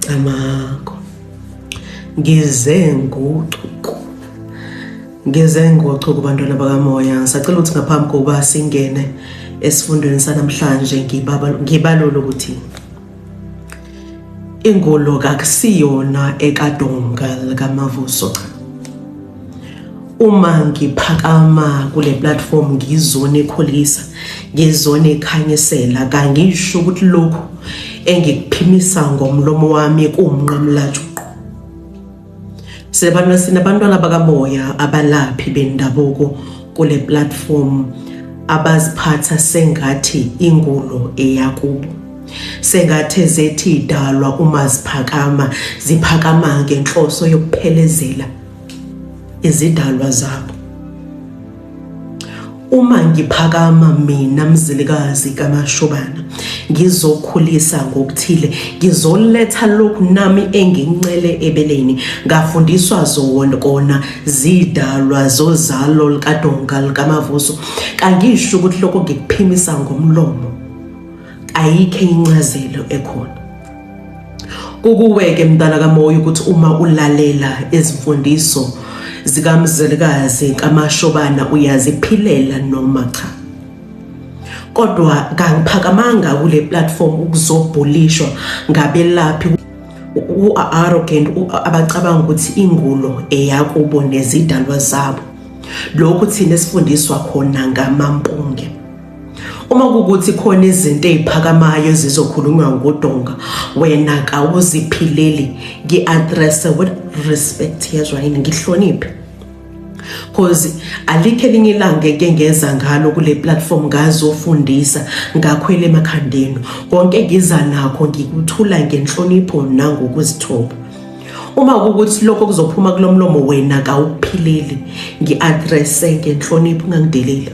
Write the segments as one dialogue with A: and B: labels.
A: Camago. Ngize ngochuku. Ngize ngochuku bantwana bakamoya. Ngisacela ukuthi ngaphambi kokuba singene esifundweni sanamhlanje ngibalule ukuthi ingolo kakusiyona ekadonga likamavuso cha uma ngiphakama kule platform ngizone ekhulisa ngizone ekhanyisela kangisho ukuthi lokhu engikuphimisa ngomlomo wami kuwumnqamulajuqu silabantu sinabantwana bakamoya abalaphi bendabuko kule platform abaziphatha sengathi ingulo eyakubo sengathe zethi idalwa uma ziphakama ziphakama ngenhloso yokuphelezela izidalwa zabo uma ngiphakama mina mzilikazi kamashobana ngizokhulisa ngokuthile ngizoletha lokhu nami engincele ebeleni ngafundiswa zona kona zidalwa zozalo likadonga likamavuso kangisho ukuthi lokho ngikuphimisa ngomlomo ayikho incazelo ekhona Kukuweke mntana kamoya ukuthi uma ulalela izimfundiso zikamzelikazi kamashobana uyaziphilela noma cha kodwa kangiphakamanga kule platform ukuzobhulishwa ngabelaphi u-arrogant abacabanga ukuthi ingulo eyakubo nezidalwa zabo lokhu thina esifundiswa khona ngamampunge Uma kukuthi khona izinto eziphakamayo ezizokhulunywa ngodonga wena kawuziphileli ngi-address with respect yezwa yini ngihloniphe cause alikho elinye ilanga eke ngeza ngalo kule platform ngazofundisa ngakhwela emakhandeni konke ngiza nakho ngikuthula ngenhlonipho nangokuzithoba uma ukuthi lokho kuzophuma kulomlomo wena kawuphileli ngiaddress ngenhlonipho ungangideleli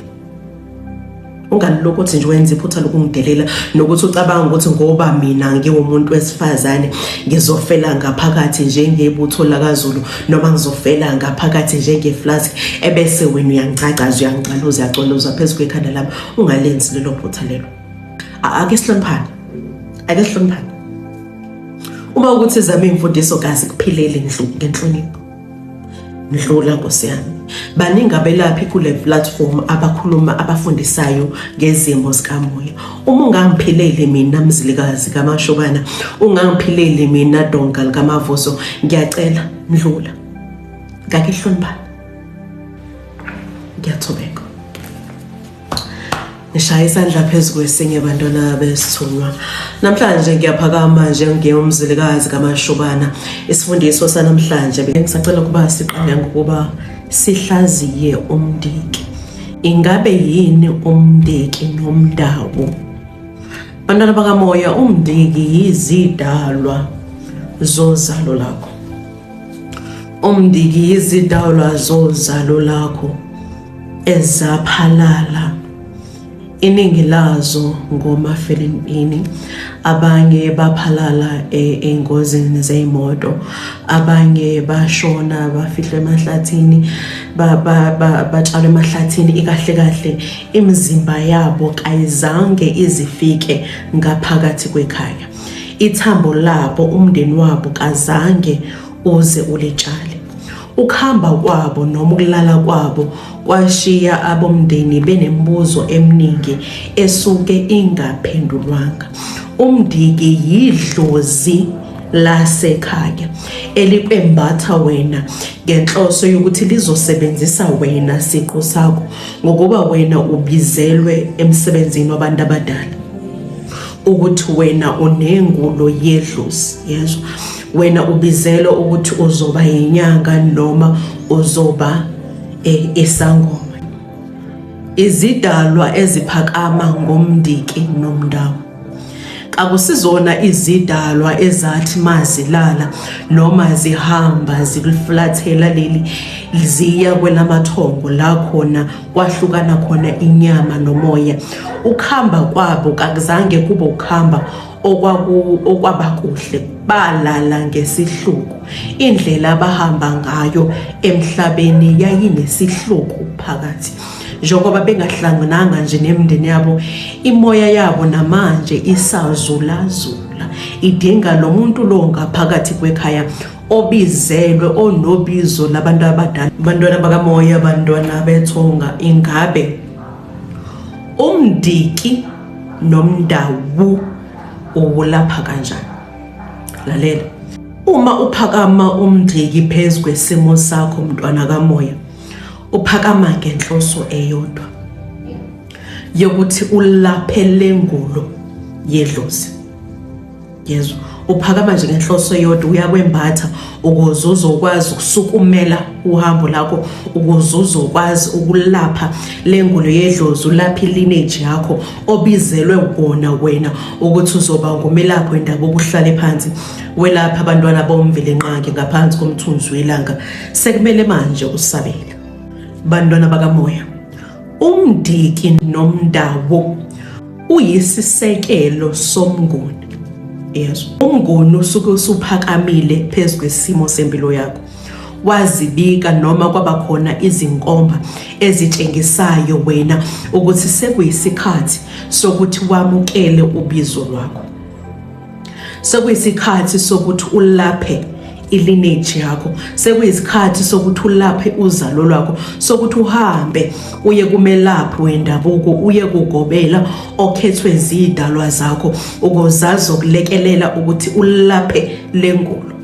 A: ungalilokhu uthi nje wenza iphutha lokungidelela nokuthi ucabanga ukuthi ngoba mina ngiwumuntu wesifazane ngizofela ngaphakathi njengebutho lakaZulu noma ngizofela ngaphakathi njengeflask ebese wena uyangicagaza uyangicaloza uyacoloza phezu kwekhanda lami ungalenzi lelo phutha lelo ake sihloniphane ake sihloniphane uma ukuthi zama imfundiso kazi kuphilele ngenhlonipho ndlula nkosi yami baningi abelaphi kule platform abakhuluma abafundisayo ngezimo zikamoya uma ungangiphileli mina mzilikazi kamashobana ungangiphileli mina donga likamavuso ngiyacela ndlula ngakihlonibani ngiyathobeka ngishaya isandla phezu kwesinye bantwana besithunywa namhlanje ngiyaphakama nje ngiyomzilikazi kamashubana isifundiso sanamhlanje bengisacela ukuba siqale ngokuba sihlaziye umndiki ingabe yini umndiki nomndawo bantwana bakamoya umndiki yizidalwa zozalo lakho umndiki yizidalwa zozalo lakho ezaphalala iningi lazo ngomafelempini abanye baphalala e, engozini zeyimoto abanye bashona bafihlwe emahlathini batshalwe emahlathini ikahle kahle imizimba yabo kayizange izifike ngaphakathi kwekhaya ithambo labo umndeni wabo kazange uze ulitshale ukuhamba kwabo noma ukulala kwabo kwashiya abomndeni benembuzo eminingi esuke ingaphendulwanga umndiki yidlozi lasekhaya elikwembatha wena ngenhloso yokuthi lizosebenzisa wena siqu sakho ngokuba wena ubizelwe emsebenzini wabantu abadala ukuthi wena unengulo yedlozi yezwa wena ubizelwe ukuthi uzoba yinyanga noma uzoba e, isangoma izidalwa eziphakama ngomndiki nomndawo akusizona izidalwa ezathi mazilala noma zihamba zikuflathela leli ziya kwelamathongo la khona kwahlukana khona inyama nomoya ukuhamba kwabo kakuzange kube ukuhamba okwabakuhle balala ngesihluku indlela abahamba ngayo emhlabeni yayinesihluku phakathi njengoba bengahlangananga nje nemndeni yabo imoya yabo namanje isazulazula idinga lo muntu lo ngaphakathi kwekhaya obizelwe onobizo labantu abadala abantwana bakamoya abantwana bethonga ingabe umndiki nomndawu uwulapha kanjani lalela uma uphakama umndiki phezu kwesimo sakho mntwana kamoya uphakama ngenhloso eyodwa yokuthi ulaphe lengulo yedlozi yezwa uphakama nje ngenhloso eyodwa uyakwembatha ukuze uzokwazi ukusukumela uhambo lakho ukuze uzokwazi ukulapha le ngulo yedlozi ulaphe ilineji yakho obizelwe wona wena ukuthi uzoba ngumelaphi wendaba okuhlale phansi welapha abantwana bomvelenqangi ngaphansi komthunzi welanga sekumele manje usabele bantwana bakamoya umdiki nomndawo uyisisekelo somnguni yes umnguni usuke usuphakamile phezu kwesimo sempilo yakho wazibika noma kwaba khona izinkomba ezitshengisayo wena ukuthi sekuyisikhathi sokuthi wamukele ubizo lwakho sekuyisikhathi sokuthi ulaphe ilineage yakho sekuyisikhathi sokuthi ulaphe uzalo lwakho sokuthi uhambe uye kumelaphi wendabuko uye kugobela okhethwe zidalwa zakho ukuzazi ukulekelela ukuthi ulaphe lengulo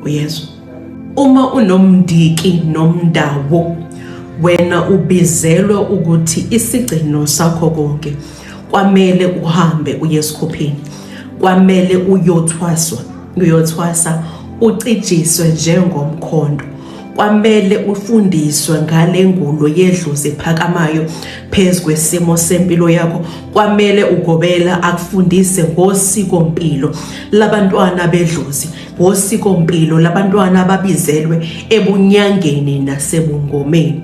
A: uyezwa uma unomndiki nomndawo wena ubizelwe ukuthi isigcino sakho konke kwamele uhambe uye esikhuphini kwamele uyothwaswa uyothwasa ucijiswe njengomkhondo kwamele ufundiswe ngale ngulo yedlozi ephakamayo phezu kwesimo sempilo yakho kwamele ugobela akufundise ngosikompilo labantwana bedlozi ngosikompilo labantwana ababizelwe ebunyangeni nasebungomeni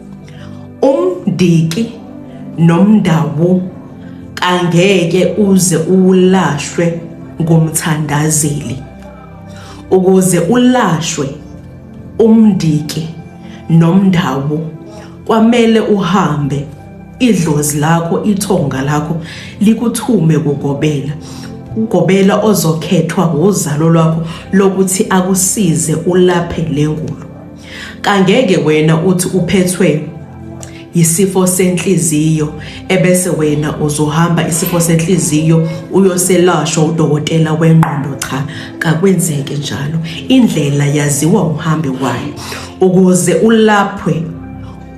A: umndiki nomndawu kangeke uze ulashwe ngomthandazeli ukuze ulashwe umndiki nomndawu kwamele uhambe idlozi lakho ithonga lakho likuthume kugobela ugobela ozokhethwa wuzalo lwakho lokuthi akusize ulaphe le ngulo Kangeke wena uthi uphethwe yisifo senhliziyo ebese wena uzohamba isifo senhliziyo uyoselashwa udokotela wengqondo cha kakwenzeke njalo indlela yaziwa uhambe wayo ukuze ulaphwe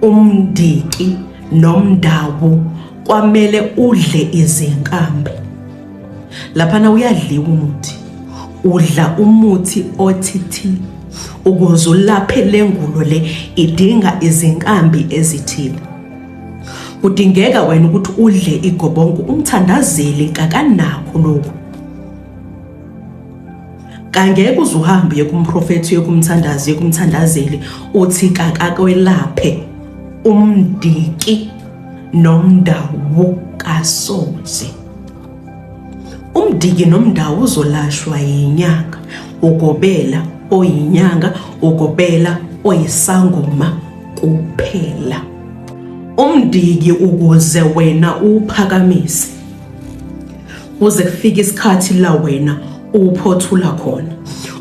A: umndiki nomndawo kwamele udle izinkambi laphana uyadliwa umuthi udla umuthi othithi ukuze ulaphe lengulo le idinga izinkambi ezithile kudingeka wena ukuthi udle igobongo umthandazeli kakanakho lokhu kangeke uze uhambe kumprofethi yokumthandazi yokumthandazeli uthi kakakwelaphe umndiki nomndawu kasoze Umdiki nomndawo uzolashwa yinyanga ugobela oyinyanga ugobela oyisangoma kuphela. Umdiki ukuze wena uphakamise kuze kufike isikhathi la wena uphothula khona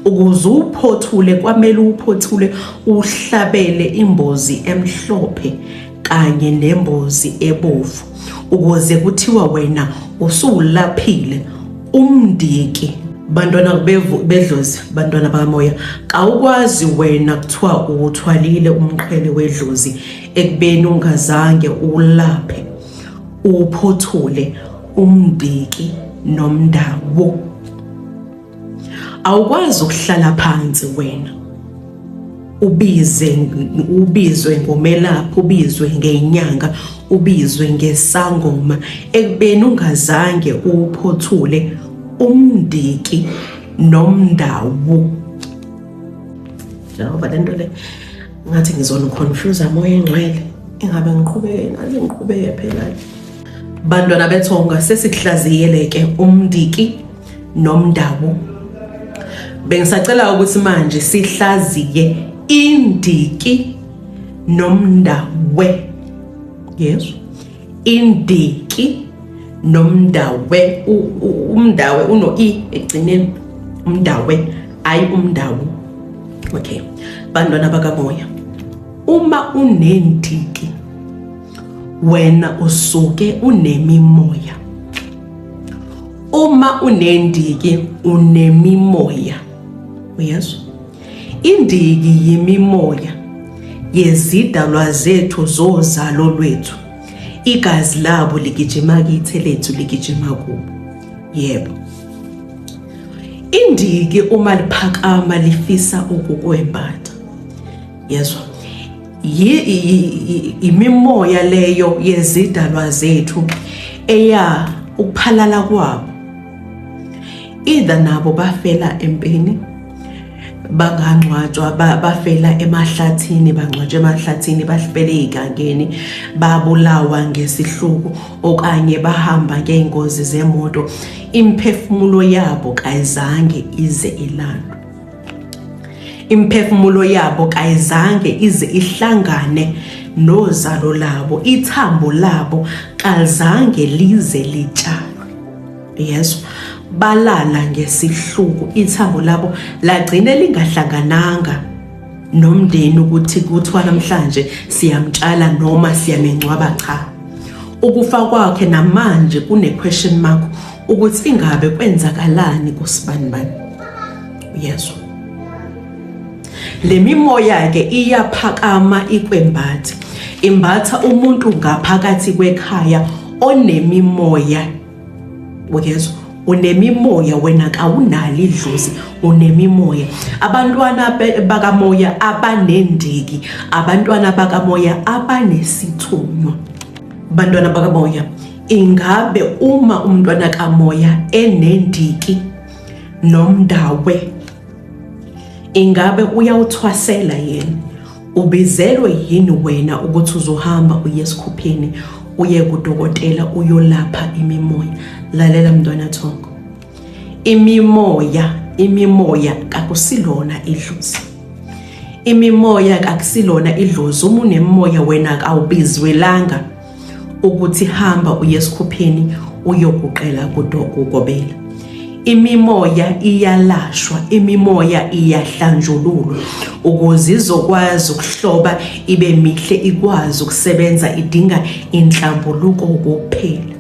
A: ukuze uphothule kwamele uphothule uhlabele imbozi emhlophe kanye nembozi ebovu ukuze kuthiwa wena usuwulaphile umndiki bantwana bedlozi bantwana bakamoya kawukwazi wena kuthiwa uwuthwalile umqhele wedlozi ekubeni ungazange ulaphe uphothule umndiki nomndawo awukwazi ukuhlala phansi wena ubize ubizwe ngomelaphi ubizwe ngenyanga ubizwe ngesangoma ekubeni ungazange uphothule umndiki nomndawu njengoba lento le ngathi ngizoniconfuse amoya engcwele ingabe ngiqhubeke ngaze ngiqhubeke phela bantwana bethonga sesikuhlaziyele ke umndiki nomndawo bengisacela ukuthi manje sihlaziye indiki nomndawe yezwa indiki nomndawe umndawe uno i egcineni umndawe ayi umndawo okay bantwana bakamoya uma unendiki wena usuke unemimoya uma unendiki unemimoya uyezwa indiki yimimoya yezidalwa zethu zozalo lwethu igazi labo ligijima kithe lethu ligijima kubo yebo indiki uma liphakama lifisa ukukwembatha yezwa imimoya leyo yezidalwa zethu eya ukuphalala kwabo either nabo bafela empini bangangcwatshwa bafela emahlathini bangcwatshwa emahlathini bafele igangeni babulawa ngesihluku okanye bahamba ngeengozi zemoto imphefumulo yabo kayizange ize ilandwe Imphefumulo yabo kayizange ize ihlangane nozalo labo, ithambo labo kazange lize litshalwe. Yesu balala ngesihluku, ithambo labo lagcine lingahlangananga nomndeni ukuthi kuthiwa namhlanje siyamtshala noma siyamengcwaba cha. Ukufa kwakhe namanje kune question mark ukuthi ingabe kwenzakalani kusibanibani uyezwa le mimoya ke iyaphakama ikwembathi imbatha umuntu ngaphakathi kwekhaya onemimoya uyezwa unemimoya wena kawunali idlozi unemimoya abantwana bakamoya abanendiki abantwana bakamoya abanesithunywa abantwana bakamoya Ingabe uma umntwana kamoya enendiki nomndawe ingabe uyawuthwasela yena ubizelwe yini wena ukuthi uzohamba uye esikhupheni uye kudokotela uyolapha imimoya lalela mntwana thongo imimoya imimoya kakusilona idlozi imimoya kakusilona idlozi uma unemoya wena kawubizwelanga ukuthi hamba uye esikhupheni uyoguqela kudokugobela imimoya iyalashwa imimoya iyahlanjululwa ukuze izokwazi ukuhloba ibe mihle ikwazi ukusebenza idinga inhlambuluko kokuphela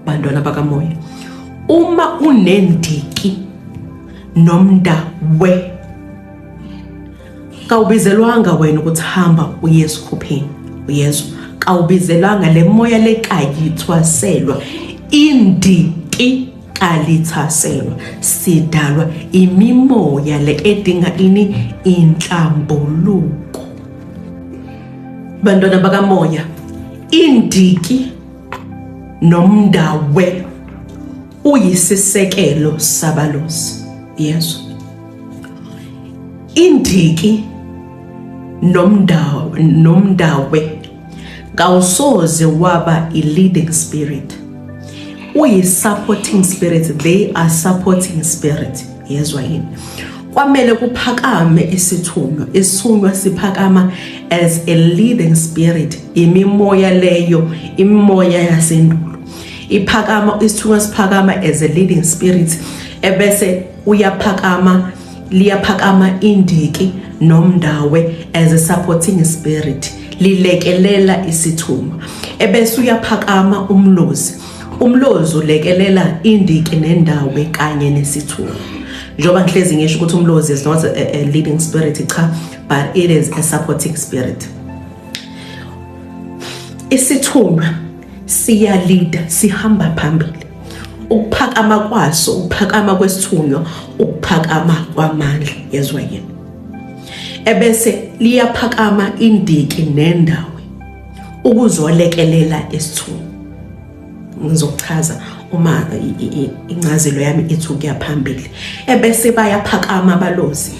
A: bantwana bakamoya uma unendiki nomnda we kawubizelwanga wena ukuthi hamba uye esikhupheni uyezwa kawubizelwanga le moya lekayithwaselwa indiki kalithaselwa sidalwa imimoya le edinga ini inhlambuluko bantwana bakamoya indiki nomndawe uyisisekelo sabalozi yezwa indiki nomndawo nomndawe kawusoze waba i-leading spirit uyi-supporting spirit they are supporting spirit yezwa yini kwamele kuphakame isithunywa isithunywa siphakama as a leading spirit imimoya leyo imimoya yasendulo iphakama isithunywa siphakama as a leading spirit ebese uyaphakama liyaphakama indiki nomndawe as a supporting spirit lilekelela isithunywa ebese uyaphakama umlozi umlozi ulekelela indiki nendawe kanye nesithunywa njengoba ngihlezi ngisho ukuthi umlozi is not a, a leading spirit cha but it is a supporting spirit isithunywa siyalida sihamba phambili ukuphakama kwaso ukuphakama kwesithunywa ukuphakama kwamandla yezwa yini ebese liyaphakama indiki nendawo ukuzolekelela isithunywa ngizochaza uma incazelo yami ithi ukuya phambili ebese bayaphakama abalozi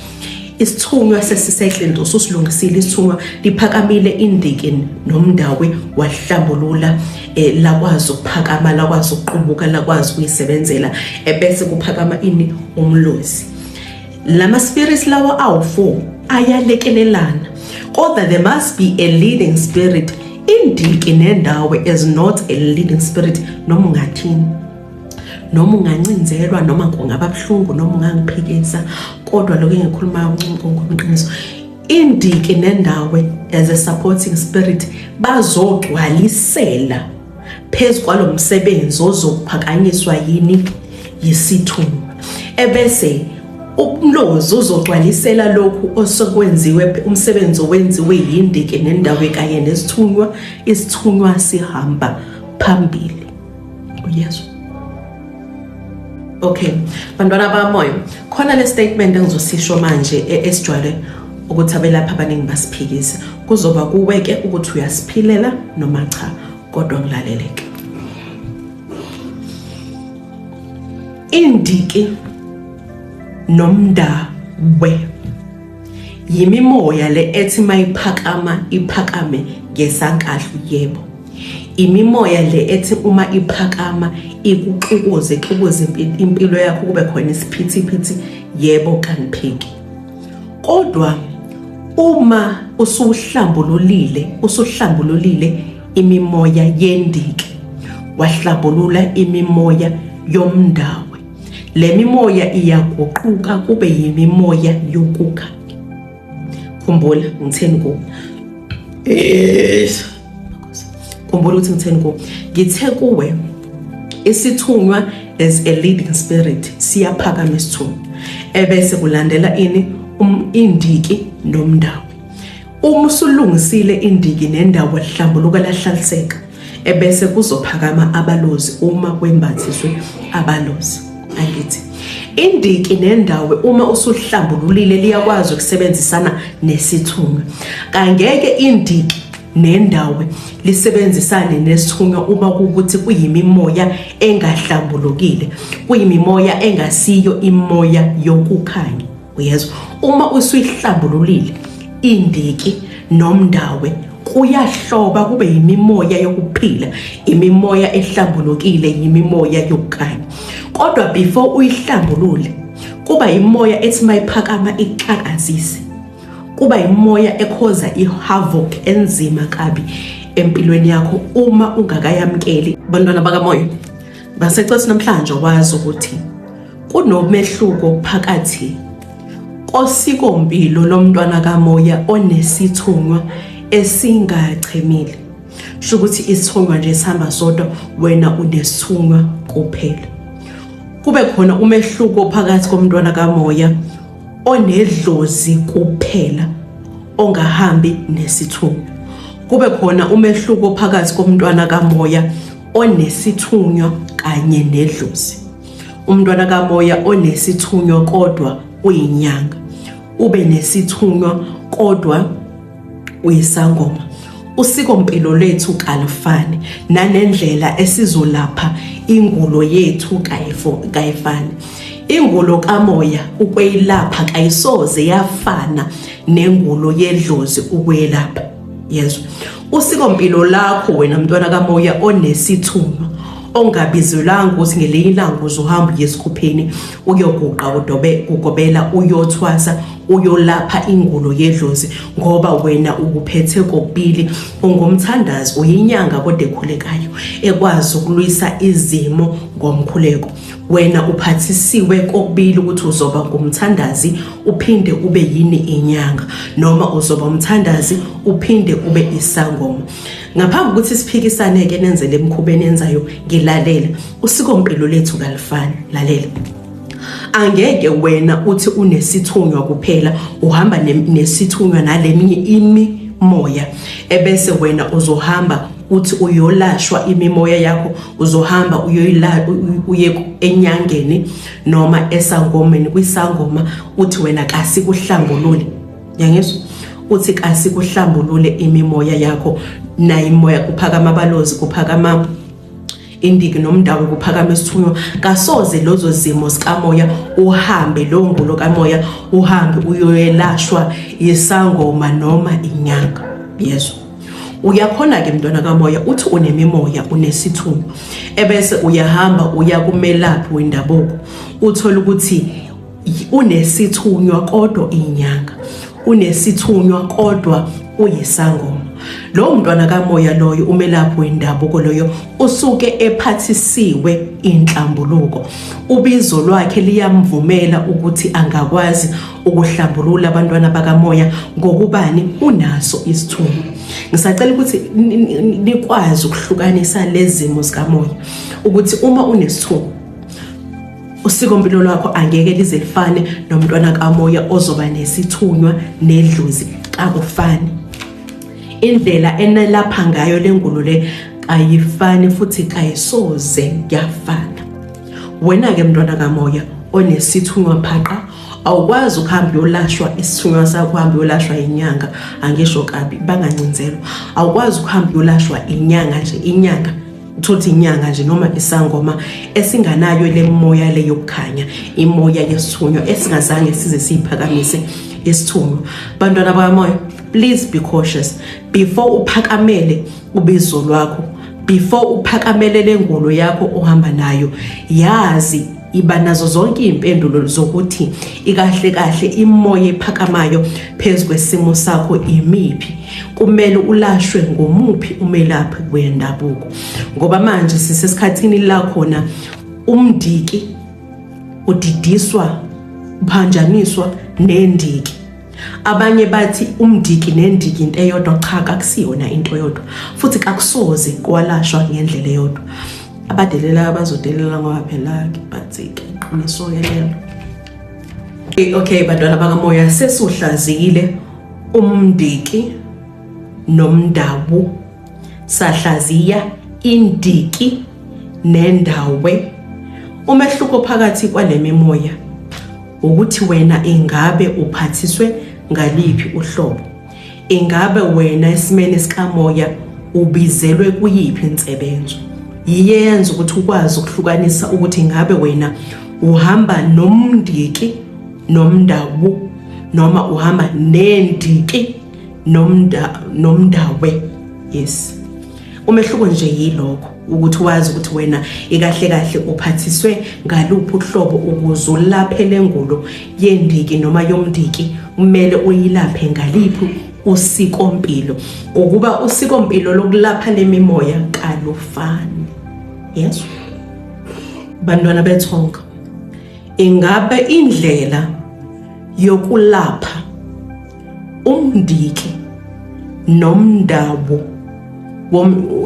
A: Isithunywa sesisehle Ndosi usilungisile isithunywa liphakamile indiki nomndawe wahlambulula eh, lakwazi ukuphakama lakwazi ukuqubuka lakwazi ukuyisebenzela ebese eh, kuphakama ini umlozi lama spirits lawa awu4 ayalekelelana kodwa there must be a leading spirit indiki nendawo is not a leading spirit noma ungathini noma ungancinzelwa noma kungaba buhlungu noma ungangiphikisa kodwa lokho engikhulumayo uncumqongoqiniso indiki nendawo as a supporting spirit bazogcwalisela phezu kwalo msebenzi ozokuphakanyiswa yini yisithunywa ebese umlozi uzogcwalisela lokhu osekwenziwe umsebenzi owenziwe yindiki nendawo kanye nesithunywa isithunywa sihamba phambili uyezwa okay bantwana bamoya khona le statement engizosisho manje e-, esijwayele ukuthi abelaphi abaningi basiphikise kuzoba kuweke ukuthi uyasiphilela noma cha kodwa kulaleleke indiki nomndawe yimimoya le ethi mayiphakama iphakame ngesankahlu yebo imimoya le ethi uma iphakama ikuxukuze ixukuze impilo yakho kube khona isiphithiphithi yebo kaniphiki kodwa uma usuhlambululile usuhlambululile imimoya yendiki wahlambulula imimoya yomndawe le mimoya iyaguquka kube yimimoya yokukhanya khumbula ngitheni ku khumbula ukuthi ngitheni ku ngithe kuwe isithunywa as a leading spirit siyaphakama isithunywa ebese kulandela ini um, indiki nomndawo uma usulungisile indiki nendawo lihlambuluka lahlaliseka ebese kuzophakama abalozi uma kwembathiswe abalozi angithi indiki nendawo uma usuhlambululile liyakwazi ukusebenzisana nesithunywa kangeke indiki nendawo lisebenzisane nesithunywa uma kukuthi kuyimimoya engahlambulukile kuyimimoya engasiyo imoya yokukhanya uyezwa uma usuyihlambululile indiki nomndawe kuyahloba kube yimimoya yokuphila imimoya ehlambulukile yimimoya yokukhanya kodwa before uyihlambulule kuba imoya ethi mayiphakama ixakazise kuba imoya ekhoza ihavoc enzima kabi empilweni yakho uma ungakayamkeli bantwana bakamoya Basecwesi namhlanje wazi ukuthi kunomehluko phakathi kosikompilo lomntwana kamoya onesithunywa esingachemile sho ukuthi isithunywa nje sihamba sodwa wena unesithunywa kuphela kube khona umehluko phakathi komntwana kamoya onedlozi kuphela ongahambi nesithunywa kube khona umehluko phakathi komntwana kamoya onesithunywa kanye nedlozi umntwana kamoya onesithunywa kodwa uyinyanga ube nesithunywa kodwa uyisangoma usiko mpilo lethu kalufani nanendlela esizolapha ingulo yethu kayifo kayifani ingulo kamoya ukweyilapha kayisoze yafana nengulo yedlozi ukwelapha yezwa Usikompilo lakho wena mntwana kamoya onesithunywa ongabizelanga ukuthi ngelinye ilanga uzohamba uye esikhupheni uyoguqa kudobe kugobela uyothwasa uyolapha ingulo yedlozi ngoba wena ukuphethe kokubili ungumthandazi uyinyanga kodwa ekhulekayo ekwazi ukulwisa izimo ngomkhuleko Wena uphathisiwe kokubili ukuthi uzoba ngumthandazi uphinde ube yini inyanga noma uzoba umthandazi uphinde ube isangoma. Ngaphambi ukuthi siphikisane ke nenzele emkhubeni enzayo ngilalela usiko mpilo lethu kalifani lalela. Angeke wena uthi unesithunywa kuphela uhamba nesithunywa naleminye imi moya ebese wena uzohamba uthi uyolashwa imimoya yakho uzohamba uyoyila uye enyangeni noma esangomeni kwisangoma uthi wena kasikuhlambulule yangizwa uthi kasikuhlambulule imimoya yakho nayo imoya kuphakama abalozi kuphakama indiki nomndawo kuphakama isithunywa kasoze lozo zimo sikamoya uhambe lo ngulo kamoya uhambe uyoyelashwa yisangoma noma inyanga yezwa uyakhona ke mntwana kamoya uthi unemimoya unesithunywa ebese uyahamba uya kumelaphi wendabuko uthola ukuthi unesithunywa kodwa inyanga unesithunywa kodwa uyisangoma lowo mntwana kamoya loyo umelaphi wendabuko loyo usuke ephathisiwe inhlambuluko ubizo lwakhe liyamvumela ukuthi angakwazi ukuhlambulula abantwana bakamoya ngokubani unaso isithumo ngisacela ukuthi nikwazi ukuhlukanisa lezimo zikamoya ukuthi uma unesithumo usikompilo lwakho angeke lize lifane nomntwana kamoya ozoba nesithunywa nedluzi kakufani indlela enelapha ngayo lengulo le ayifani futhi kayisoze yafana wena ke mntwana kamoya onesithunywa phaqa awukwazi ukuhamba uyolashwa isithunywa sakho uhamba uyolashwa inyanga angisho kabi bangancinzelwa awukwazi ukuhamba uyolashwa inyanga nje inyanga uthothi inyanga nje noma isangoma esinganayo le moya le yokukhanya imoya yesithunywa esingazange size siyiphakamise isithunywa bantwana bakamoya please be cautious before uphakamele ubizo lwakho before uphakamele lengolo yakho ohamba nayo yazi iba nazo zonke iy'mpendulo zokuthi ikahle kahle imoya ephakamayo phezu kwesimo sakho imiphi kumele ulashwe ngomuphi umelaphi wendabuko ngoba manje sisesikhathini la khona umndiki udidiswa uphanjaniswa nendiki Abanye bathi umndiki nendiki into eyodwa cha kakusiyona into eyodwa futhi kakusoze kwalashwa ngendlela eyodwa abadelela abazodelela ngoba phela bathike iqiniso yelelo eh, okay bantwana bakamoya sesuhlazile umndiki nomndawu sahlaziya indiki nendawe umehluko phakathi kwalemimoya Ukuthi wena ingabe uphathiswe ngaliphi uhlobo? Ingabe wena esimeni sikamoya ubizelwe kuyiphi insebenzo? Yiye yenza ukuthi ukwazi ukuhlukanisa ukuthi ingabe wena uhamba nomndiki nomndawu noma uhamba nendiki nomnda nomndawe yes umehluko nje yilokho ukuthi wazi ukuthi wena ikahle kahle uphathiswe ngaluphi uhlobo ukuze ulaphe lengulo yendiki noma yomndiki kumele uyilaphe ngaliphi usikompilo ngokuba usikompilo lokulapha lemimoya kalufani yes bantwana bethonga ingabe indlela yokulapha umndiki nomndawo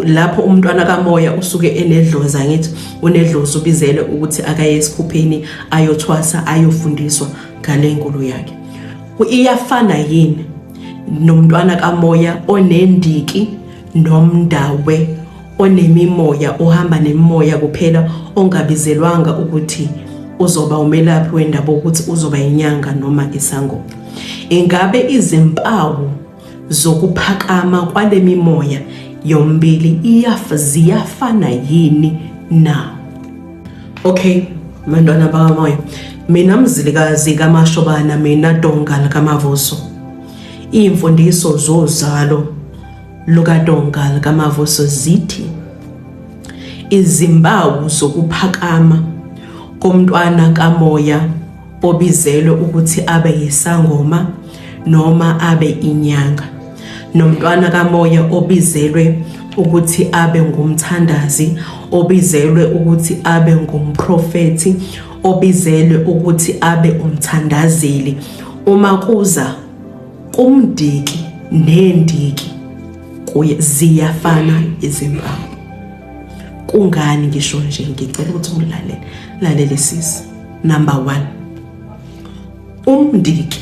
A: lapho umntwana kamoya usuke enedloza ngithi unedlozi ubizele ukuthi akaye esikhupheni ayothwasa ayofundiswa ngale nkulu yakhe iyafana yini nomntwana kamoya onendiki nomndawe onemimoya ohamba nemimoya kuphela ongabizelwanga ukuthi uzoba umelaphi wendaba ukuthi uzoba inyanga noma isangoma ingabe izimpawu zokuphakama kwale mimoya yombili iyaf ziyafana yini na okay mantwana bakamoya mina mzilikazi kamashobana mina donga likamavuso iy'mfundiso zozalo lukaDonga lukamavuso zithi izimpawu zokuphakama komntwana kamoya obizelwe ukuthi abe yisangoma noma abe inyanga nomntwana kamoya obizelwe ukuthi abe ngumthandazi obizelwe ukuthi abe ngumprofethi obizelwe ukuthi abe umthandazeli uma kuza kumdiki nendiki kuye ziyafana izimpawu kungani ngisho nje ngicela ukuthi ulalele lalele sisi number 1 umndiki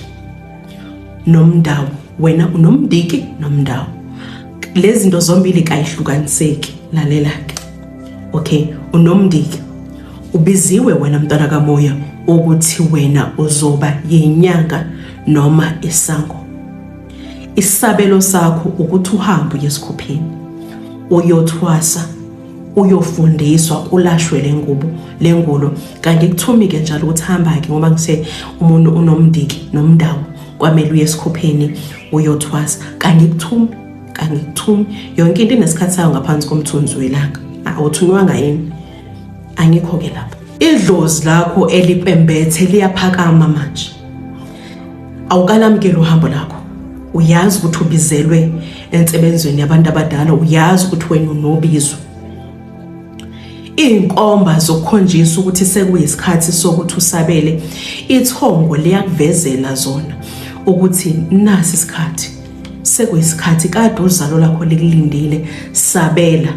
A: nomndawo wena unomndiki nomndawo lezi zinto zombili kayihlukaniseki lalela ke okay unomndiki ubiziwe wena mntwana kamoya ukuthi wena uzoba yinyanga noma isango isabelo sakho ukuthi uhambe uye esikhupheni uyothwasa uyofundiswa ulashwe lengubo lengulo kanti kuthumike njalo ukuthi hamba ke ngoba ngise umuntu unomndiki nomndawo kwamele uye esikhupheni uyothwasa kanti kuthumi kanti kuthumi yonke into inesikhathi sayo ngaphansi komthunzi welanga awuthunywanga yini angikho-ke lapho idlozi lakho elipembethe liyaphakama manje awukalamukeli uhambo lakho uyazi ukuthi ubizelwe ensebenzweni yabantu abadala uyazi ukuthi wena unobizo iy'nkomba zokukhonjisa ukuthi sekuyisikhathi sokuthi usabele ithongo liyakuvezela zona ukuthi nasi isikhathi sekuyisikhathi kade uzalo lakho likulindile sabela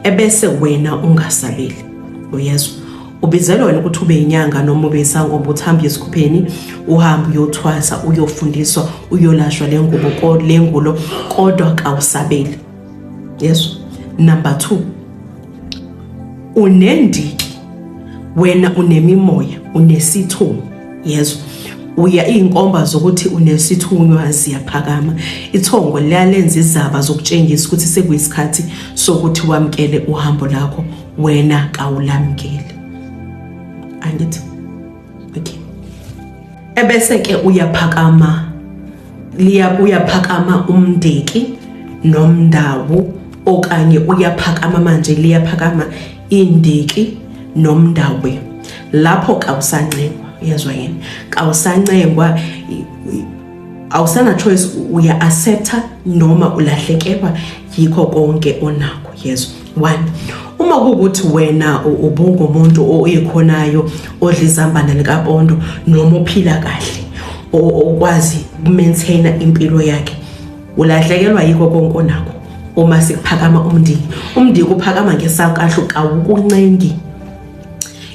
A: ebese wena ungasabeli uyezwa ubizelwa wena ukuthi ube inyanga noma ube isangoma uthambe esikhupheni uhambe uyothwasa uyofundiswa uyolashwa le ngubo le ngulo kodwa kawusabeli yezwa number 2 unendiki wena unemimoya unesithomo yezwa uya izinkomba zokuthi unesithunywa ziyaphakama ithongo liyalenza izaba zokutshengisa ukuthi sekuyisikhathi sokuthi wamkele uhambo lakho wena kawulamkeli angithi okay ebese ke uyaphakama liya uyaphakama umndeki nomndawo okanye uyaphakama manje liyaphakama indiki nomndakwe lapho kawusancengwa yezwa yini kawusancengwa awusana choice uya accepta noma ulahlekelwa yikho konke onakho yezwa one uma kuwukuthi wena ubungumuntu oyikhonayo odla izambane likapondo noma ophila kahle okwazi ukumaintaina impilo yakhe Ulahlekelwa yiko konke onakho uma sikuphakama umndiki. Umndiki uphakama ngesankahlu kawukuncengi.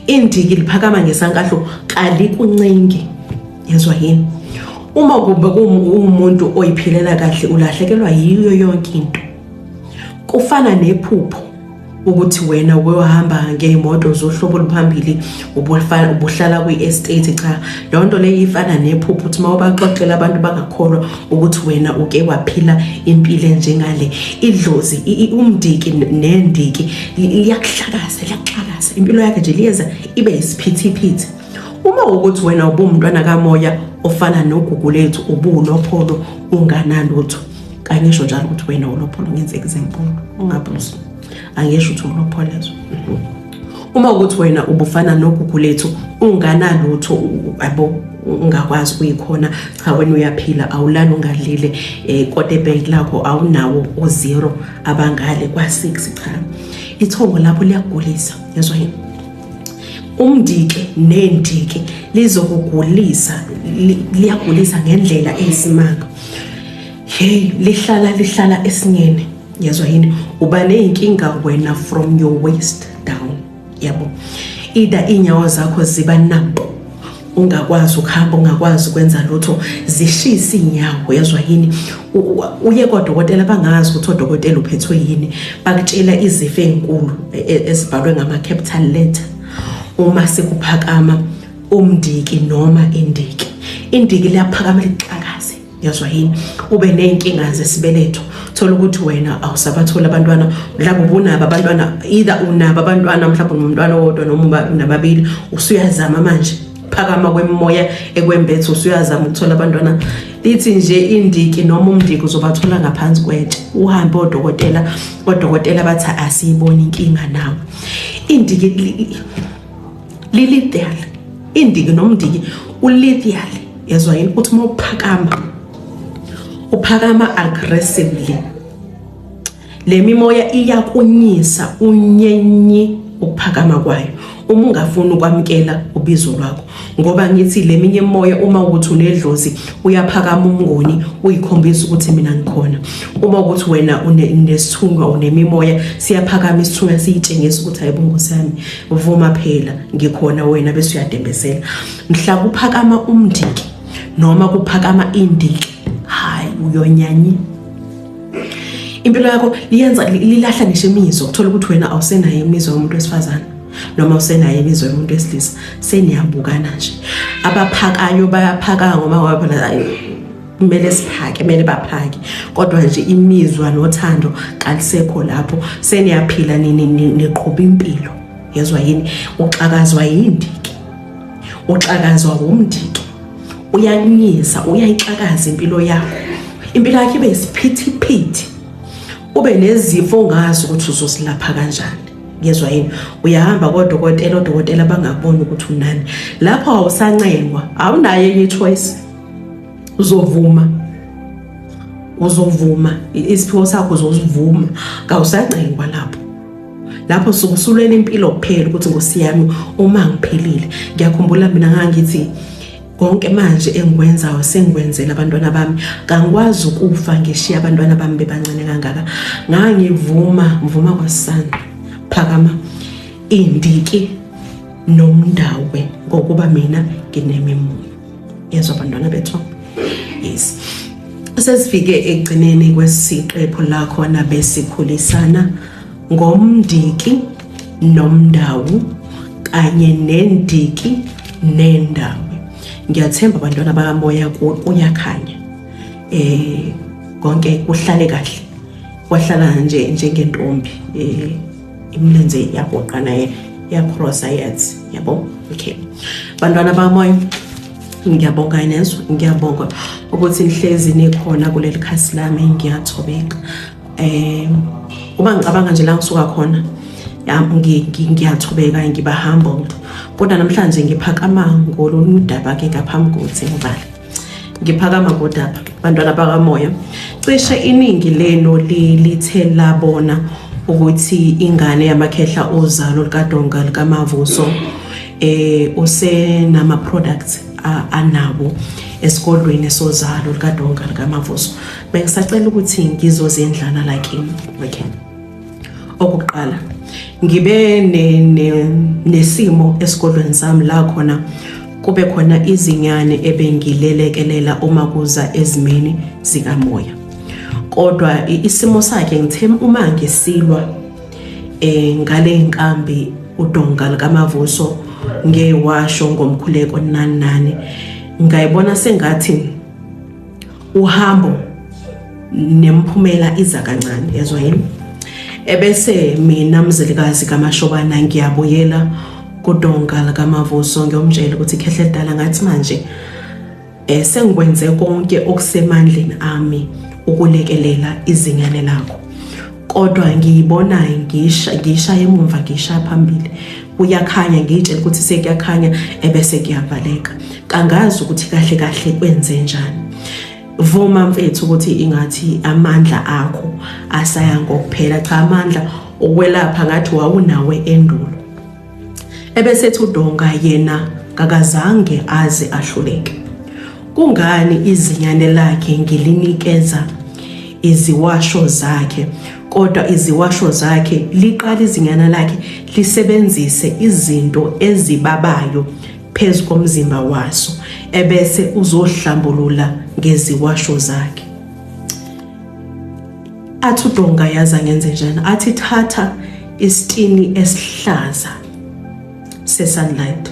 A: Indiki liphakama ngesankahlu kalikuncengi. Yezwa yini? Uma kumbe kuwumuntu oyiphilela kahle ulahlekelwa yiyo yonke into. Kufana nephupho ukuthi wena uyohamba ngey'moto zohlobo oluphambili ubuhlala kwi-estate cha leyo nto leyo ifana nephupho ukuthi uma ubaxoxela abantu bangakholwa ukuthi wena uke waphila impilo enjengale idlozi umdiki nendiki liyakuhlakaza liyakuxakaza impilo yakhe nje liyeza ibe yisiphithiphithi uma ukuthi wena ubumntwana kamoya ofana nogugu lethu ubunopholo unganalutho kangisho njalo ukuthi wena ulopholo ngenzeka izinkulu ungabuzi angisho ukuthi ulopholezo uma ukuthi wena ubufana nogugu lethu unganalutho abo ungakwazi kuyikhona cha wena uyaphila awulali ungadlile eh kodwa ebank lakho awunawo o0 abangale kwa6 cha ithongo lapho liyagulisa yezwa yini umndike nendike lizokugulisa liyagulisa ngendlela eyisimanga hey lihlala lihlala esinyeni yezwa yini uba ney'nkinga wena from your waist down yabo ida iy'nyawo zakho ziba nampo ungakwazi ukuhamba ungakwazi ukwenza lutho zishisa iy'nyawo yezwa yini uye kodokotela bangazi ukuthi odokotela uphethwe yini bakutshela izifo ey'nkulu e, e, ezibhalwe ngama-capital letter uma sekuphakama umndiki noma indiki indiki liyaphakama lixakaze yazwa yini ube ney'nkinga zesibeletho thola ukuthi wena awusabatholi abantwana mhlawumbe ubunabo abantwana either unabo abantwana mhlawumbe nomntwana wodwa noma unababili usuyazama manje phakama kwemoya ekwembethe usuyazama ukuthola abantwana lithi nje indiki noma umndiki uzobathola ngaphansi kwetshe uhambe odokotela odokotela bathi asiyiboni inkinga nawo indiki lilithial indiki nomndiki ulithial yezwa yini uthi uma uphakama uphakama aggressively le mimoya iyakunyisa unyenyi ukuphakama kwayo uma ungafuni ukwamukela ubizo lwakho ngoba ngithi leminye moya uma ukuthi unedlozi uyaphakama umnguni uyikhombisa ukuthi mina ngikhona uma ukuthi wena unesithunga unemimoya siyaphakama isithunga siyitshengisa ukuthi hayibo nkosi yami vuma phela ngikhona wena bese uyadembesela mhla kuphakama umndiki noma kuphakama indiki hayi uyonyanye impilo yakho liyenza lilahla ngisho imizwa ukuthola ukuthi wena awusenayo imizwa yomuntu wesifazane noma usenaye imizwa yomuntu wesilisa seniyabukana nje abaphakayo bayaphaka ngoba waphela kumele siphake kumele baphake kodwa nje imizwa nothando kalisekho lapho seniyaphila nini niqhuba impilo yezwa yini uxakazwa yindiki uxakazwa wumndiki uyakunyisa uyayixakaza impilo yakho impilo yakho ibe isiphithiphithi ube nezifo ongazi ukuthi uzosilapha kanjani ngezwa yini uyahamba kodokotela odokotela bangakuboni ukuthi unani lapho awusancengwa awunayo enye choice uzovuma uzovuma isiphiwo sakho uzosivuma kawusancengwa lapho lapho sukusulwela impilo kuphela ukuthi ngosiyami uma ngiphelile ngiyakhumbula mina ngangithi konke manje engikwenzayo sengikwenzela abantwana bami kangikwazi ukufa ngishiya abantwana bami bebancane kangaka ngangivuma ngivuma kwasana phakama indiki nomndawe ngokuba mina nginemimoya yezwa abantwana bethu yes sesifike ekugcineni kwesiqephu lakhona besikhulisana ngomndiki nomndawu kanye nendiki nendawo ngiyathemba bantwana bakamoya kuyakhanya eh konke kuhlale kahle kwahlala nje njengentombi eh imilenze yagoqa naye yakrosa yathi yabo okay bantwana bakamoya ngiyabonga inezo ngiyabonga ukuthi nihlezi nikhona kuleli khasi lami ngiyathobeka um uma ngicabanga nje la ngisuka khona ngiyathubeka ngiba humbled kodwa namhlanje ngiphakama ngolunye udaba ke ngaphambi kokuthi ngibale ngiphakama kodaba bantwana bakamoya cishe iningi lenu lithe labona ukuthi ingane yamakhehla ozalo likadonga likamavuso eh usenama products anawo esikolweni sozalo likadonga likamavuso bengisacela ukuthi ngizozendlana la kimi okay okuqala ngibe nesimo esikolweni sami la khona kube khona izinyane ebengilelekelela uma kuza ezimeni zikamoya kodwa isimo sakhe ngithe uma ngisilwa eh ngale inkambi udonga likamavuso ngewasho ngomkhuleko nani nani ngayibona sengathi uhambo nemphumela iza kancane ezwa yini ebese mina mzelikazi kamashobana ngiyabuyela kudonga likamavuso ngiyomtshela ukuthi khehle dala ngathi manje eh sengikwenze konke okusemandleni ami ukulekelela izingane lakho kodwa ngiyibonayo ngisha ngisha emumva ngisha phambili kuyakhanya ngiyitshela ukuthi sekuyakhanya ebese kuyavaleka kangazi ukuthi kahle kahle kwenze njani vuma mfethu ukuthi ingathi amandla akho asaya ngokuphela cha amandla okwelapha ngathi wawunawe endulo Ebesethi uDonga yena kakazange aze ahluleke. Kungani izinyane lakhe ngilinikeza iziwasho zakhe kodwa iziwasho zakhe liqala izinyana lakhe lisebenzise izinto ezibabayo phezu komzimba waso ebese uzohlambulula ngeziwasho zakhe. athi udonga yazi angenze njani athi thatha isitini esihlaza se-sunlight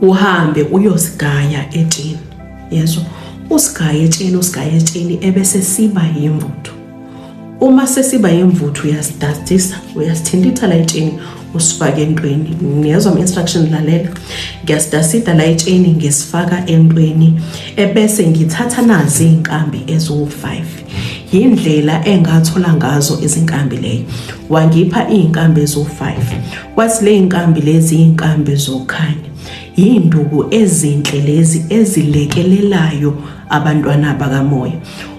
A: uhambe uyosigaya etsheni yezwa usigaya etsheni usigaya etsheni ebese siba yimvuthu uma sesiba yimvuthu uyasidastisa uyasithintitha la etsheni usifake entweni ngiyezwa ama-instruction lalela ngiyasitasida la etsheni ngisifaka entweni ebese ngithatha nazi iy'nkambi eziwu-five yindlela engathola ngazo izinkambi leyo wangipha iy'nkambi eziwu-five kwathi ley'nkambi lezi iy'nkambi zokukhanya yiy'nduku ezinhle lezi ezilekelelayo abantwana bakamoya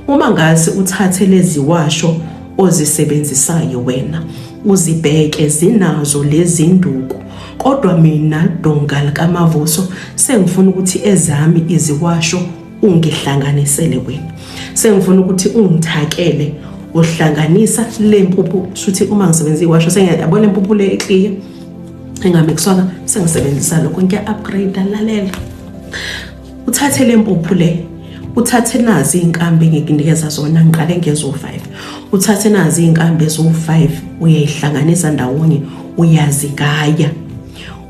A: uma ngase uthathe lezi washo ozisebenzisayo wena Uzibheke zinazo lezinduku kodwa mina donga likamavuso sengifuna ukuthi ezami iziwasho ungihlanganisele wena sengifuna ukuthi ungithakele uhlanganisa le mpuphu shuthi uma ngisebenza iwasho sengiyabona impuphu le ekliye engamixwanga sengisebenzisa lokho ngiya-upgrade lalela uthathe le mpuphu le uthathe nazi iy'nkambi engikunikeza zona ngiqale ngezo-five uthathe nazi iy'nkambi eziwu-five uyayihlanganisa ndawonye uyazigaya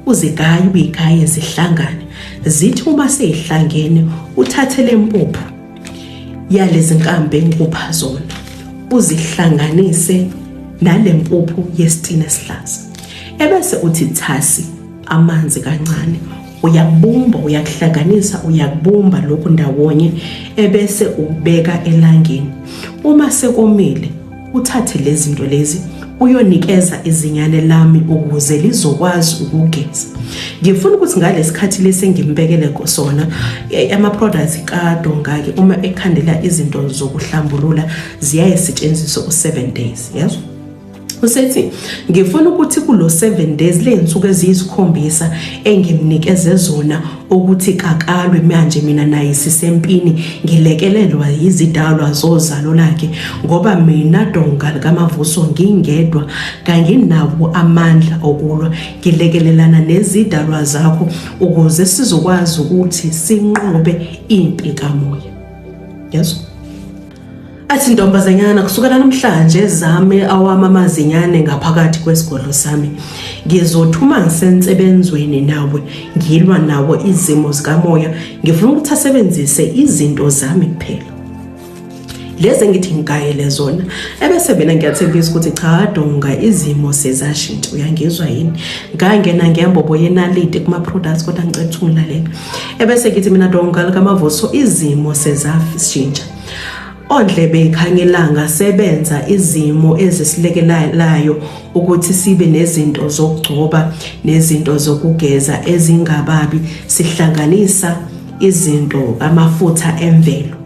A: uzigaya uyigaye zihlangane zithi uma seyihlangene uthathe le mpuphu yalezi nkambi engikupha zona uzihlanganise nale mpuphu yesitina esihlaza ebese uthi thasi amanzi kancane uyakubumba uyakuhlanganisa uyakubumba lokhu ndawonye ebese ubeka elangeni uma sekomile uthathe lezi zinto lezi uyonikeza izinyane lami ukuze lizokwazi ukugeza ngifuna ukuthi ngalesikhathi lesi ngimbekele sona e, ama products kadongake uma ekhandela izinto zokuhlambulula ziyaye setshenziswa u7 days yazi usethi ngifuna ukuthi kulo 7 days ley'nsuku eziyisikhombisa engimnikeze zona ukuthi kakalwe manje mina naye sisempini ngilekelelwa yizidalwa zozalo lakhe ngoba mina donga likamavuso ngingedwa kanginawo amandla okulwa ngilekelelana nezidalwa zakho ukuze sizokwazi ukuthi sinqobe impi kamoya yeso Athi ntombazanyana kusukela namhlanje zame awami amazinyane ngaphakathi kwesigodlo sami. Ngizothi uma ngisensebenzweni nawe ngilwa nawo izimo zikamoya ngifuna ukuthi asebenzise izinto zami kuphela. Lezi engithi ngigayele zona ebese mina ngiyathembisa ukuthi cha donga izimo sezashintsha uyangizwa yini. Ngangena ngiyambobo yenalite kuma products kodwa ngicela ukuthi ungilalele. ebese ngithi mina donga likamavuso izimo sezashintsha ondlebe ikhangelanga sebenza izimo ezisilekelayo ukuthi sibe nezinto zokugcoba nezinto zokugeza ezingababi sihlanganisa izinto amafutha emvelo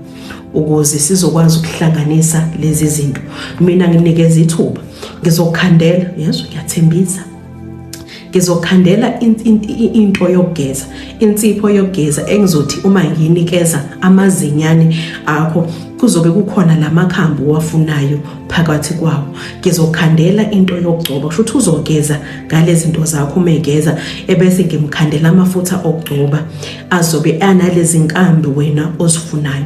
A: ukuze sizokwazi ukuhlanganisa lezi zinto mina nginikeza ithuba ngizokhandela yezwa ngiyathembisa ngizokhandela into yokugeza insipho yokugeza engizothi uma ngiyinikeza amazinyane akho kuzobe kukhona lamakhambi owafunayo phakathi kwawo ngizokhandela into yokugcoba kusho ukuthi uzogeza ngalezi zinto zakho uma egeza ebese ngimkhandela amafutha okugcoba azobe analezi nkambi wena ozifunayo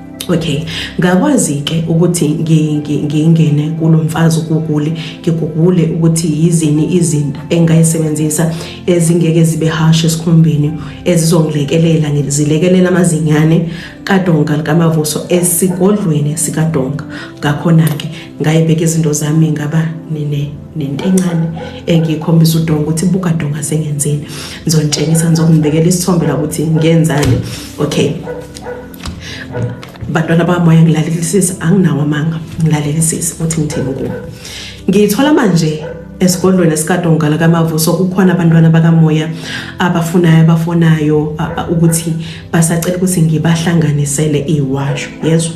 A: Okay, ngakwazi-ke ukuthi ngingene kulo mfazi ugugule, ngigugule ukuthi yizini izinto engingayisebenzisa ezingeke zibe harsh esikhumbeni ezizongilekelela ngizilekelela amazinyane kadonga likamavuso esigodlweni sikadonga ngakhona-ke ngayibeka izinto zami ngaba nine nento encane engiyikhombisa udonga ukuthi buka donga sengenzeni ngizonitshengisa ngizokunibekela isithombe la ukuthi ngenzani okay bantwana bamoya ngilalelisisa anginawo amanga ngilalelisisa ukuthi ngithini kuwo ngiyithola manje esigodlweni esikadongala kamavuso kukhona abantwana bakamoya abafunayo abafonayo ukuthi basacela ukuthi ngibahlanganisele iwasho yezwa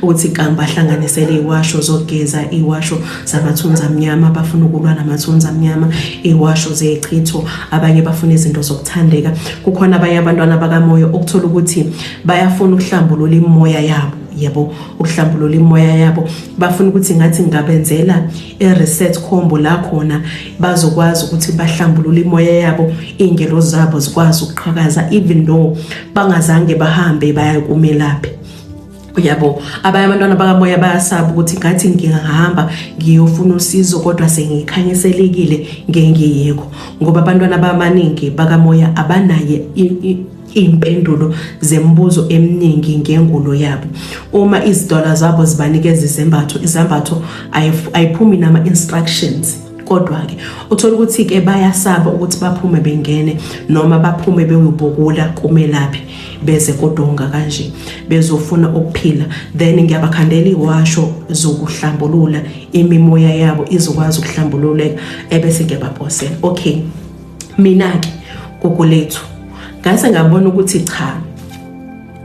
A: ukuthi kangibahlanganisele iwasho zogeza iwasho zabathunzi amnyama abafuna ukulwa namathunzi amnyama iwasho zechitho abanye bafuna izinto zokuthandeka kukhona abanye abantwana bakamoya okuthola ukuthi bayafuna ukuhlambulula imoya yabo yebo ukuhlambulula imoya yabo bafuna ukuthi ngathi ngabenzela i-reset combo la khona bazokwazi ukuthi bahlambulule imoya yabo iy'ngelo zabo zikwazi ukuqhakaza even though bangazange bahambe bayakumelaphi uyabo abanye abantwana bakamoya bayasaba ukuthi ngathi ngingahamba ngiyofuna usizo kodwa sengikhanyiselekile ngengiyikho ngoba abantwana abaningi bakamoya abanaye iy'mpendulo zemibuzo eminingi ngengulo yabo uma izidwala zabo zibanikeza izembatho izembatho ayiphumi nama-instructions kodwa-ke uthola ukuthi-ke bayasaba ukuthi baphume bengene noma baphume bewubukula kumelaphi beze kodonga kanje bezofuna ukuphila then ngiyabakhandela iwasho zokuhlambulula imimoya yabo izokwazi ukuhlambululeka ebese ngiyabaphosela okay mina-ke gogo lethu ngase ngabona ukuthi cha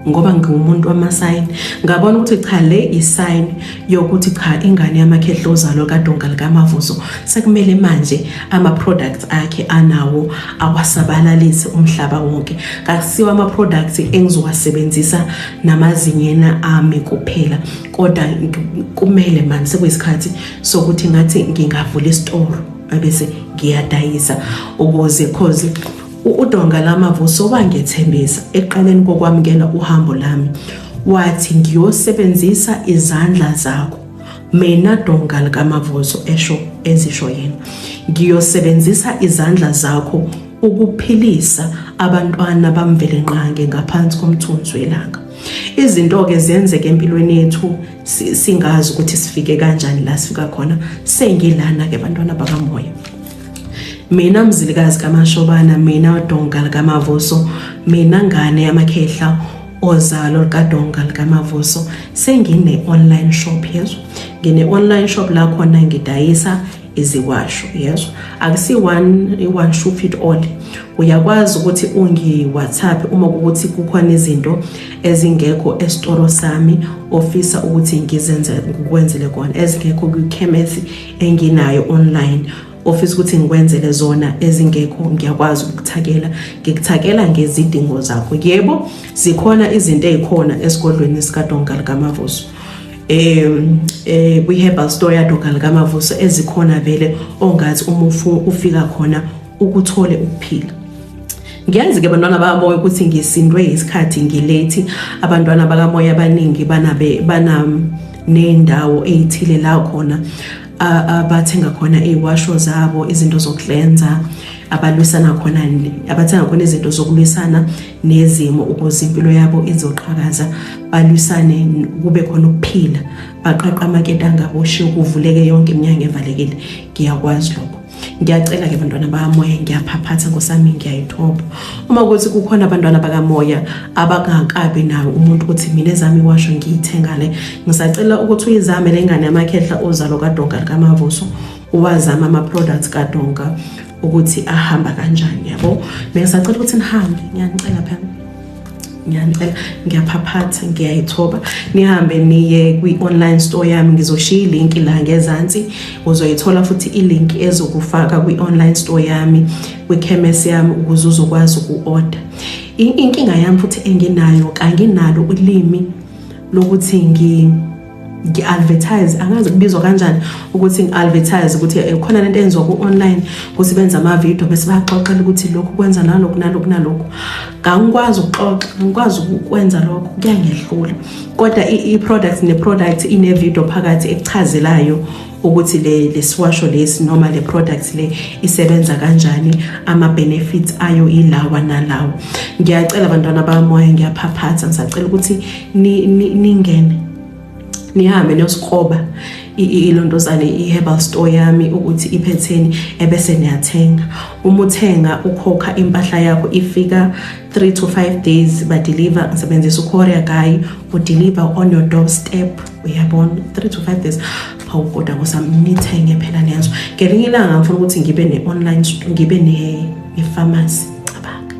A: ngoba ngiwumuntu wamasayini ngabona ukuthi cha le isayini yokuthi cha ingane yamakhehla ozalwa kadonga likamavuzo sekumele manje ama-products akhe anawo awasabalalise umhlaba wonke kakusiwa ama-products engizowasebenzisa namazinyena ami kuphela kodwa kumele mani sekuyisikhathi sokuthi ngathi ngingavula isitoro abese ngiyadayisa ukuze cause U-Udonga Lama Vuso wangethembisa eqaleni kokwamukela uhambo lami wathi ngiyosebenzisa izandla zakho mina donga likamavuso esho ezisho yena ngiyosebenzisa izandla zakho ukuphilisa abantwana bamvelenqange ngaphansi komthunzi welanga izinto-ke zenzeka empilweni yethu singazi ukuthi sifike kanjani la sifika khona sengilana-ke bantwana bakamoya mina mzilikazi kamashobana mina udonga likamavuso mina ngane yamakhehla ozalo likadonga likamavuso sengine-online shop yezwa ngine-online shop la khona ngidayisa iziwasho yezwa akusi-one shoe fit all uyakwazi ukuthi ungi-whatsapp uma kukuthi kukhona izinto ezingekho esitoro sami ofisa ukuthi ngizenze ngikwenzele kona ezingekho kwikhemesi enginayo online ofisa ukuthi ngikwenzele zona ezingekho ngiyakwazi ukuthakela ngikuthakela ngezidingo zakho yebo zikhona izinto ezikhona esigodlweni sikadonga likamavuso um eh, kwi-herbal store yadonga likamavuso ezikhona vele ongathi uma ufika khona ukuthole ukuphila ngiyazi-ke abantwana bakamoya ukuthi ngisindwe isikhathi ngilethi abantwana bakamoya abaningi bananendawo eyithile la khona abathenga khona iwasho zabo izinto zokuhlenza abalwisana khona abathenga khona izinto zokulwisana nezimo ukuze impilo yabo izoqhakaza balwisane kube khona ukuphila baqaqa amaketanga boshiye kuvuleke yonke iminyango evalekile ngiyakwazi lokho ngiyacela ke bantwana bamoya ngiyaphaphatha nkosami ngiyayithoba uma kuthi kukhona abantwana bakamoya abangakabi nayo umuntu ukuthi mina ezami washo ngiyithenga le ngisacela ukuthi uyizame le ngane yamakhehla ozalo kadonga likamavuso uwazama ama-products kadonga ukuthi ahamba kanjani yabo bengisacela ukuthi nihambe ngiyanicela phela ngiyanicela ngiyaphaphatha ngiyayithoba nihambe niye kwi-online store yami ngizoshiya ilinki la ngezansi uzoyithola futhi ilinki ezokufaka kwi-online store yami kwikhemesi yami ukuze uzokwazi uku-order inkinga yami futhi enginayo kanginalo ulimi lokuthi ngi ngi-advertise angazi kubizwa kanjani ukuthi ngi-advertise ukuthi eh, khona lento enziwa ku-online ukuthi benze amavidiyo bese baxoxela ukuthi lokhu kwenza nalokhu nalokhu nalokhu ngangikwazi ukuxoxa ngikwazi ukwenza lokho kuyangehlula kodwa i-product ne-product ine-video phakathi ekuchazelayo ukuthi le lesiwasho lesi noma le products le isebenza kanjani ama benefits ayo ilawa nalawa ngiyacela abantwana bamoya ngiyaphaphatha ngisacela ukuthi ningene nihambe niyosikhoba ilondozane i-herbal store yami ukuthi iphetheni ebese niyathenga uma uthenga ukhokha impahla yakho ifika 3 to 5 days badeliver ngisebenzisa ucourier guy udeliver on your doorstep uyabona 3 to 5 days hawu kodwa ngosami nithenge phela nenzo ngelinye ilanga ngifuna ukuthi ngibe ne-online ngibe ne-pharmacy cabanga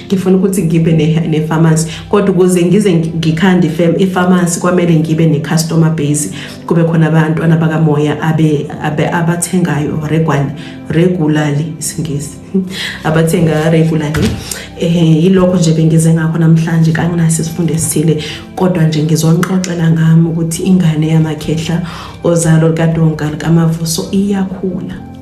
A: ngifuna ukuthi ngibe ne-pharmacy kodwa ukuze ngize ngikhande i-pharmacy kwamele ngibe ne-customer base kube khona abantwana bakamoya abathengayo regwani regularly isingisi abathenga regularly um yilokho nje bengize ngakho namhlanje kanginaso isifundo esithile kodwa nje ngizonixoxela ngami ukuthi ingane yamakhehla ozalo likadonka likamavuso iyakhula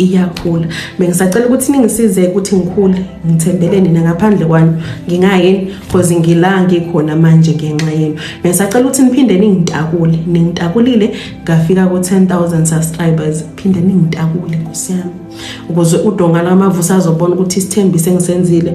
A: iyakhula bengisacela ukuthi ningisize ukuthi ngikhule ngithembele nina ngaphandle kwani ngingayini cause ngila ngikhona manje ngenxa yenu bengisacela ukuthi niphinde ningitakule ningitakulile ngafika ku 10000 subscribers phinde ningitakule nkosiyami ukuze udonga lamavusa azobona ukuthi isithembiso engisenzile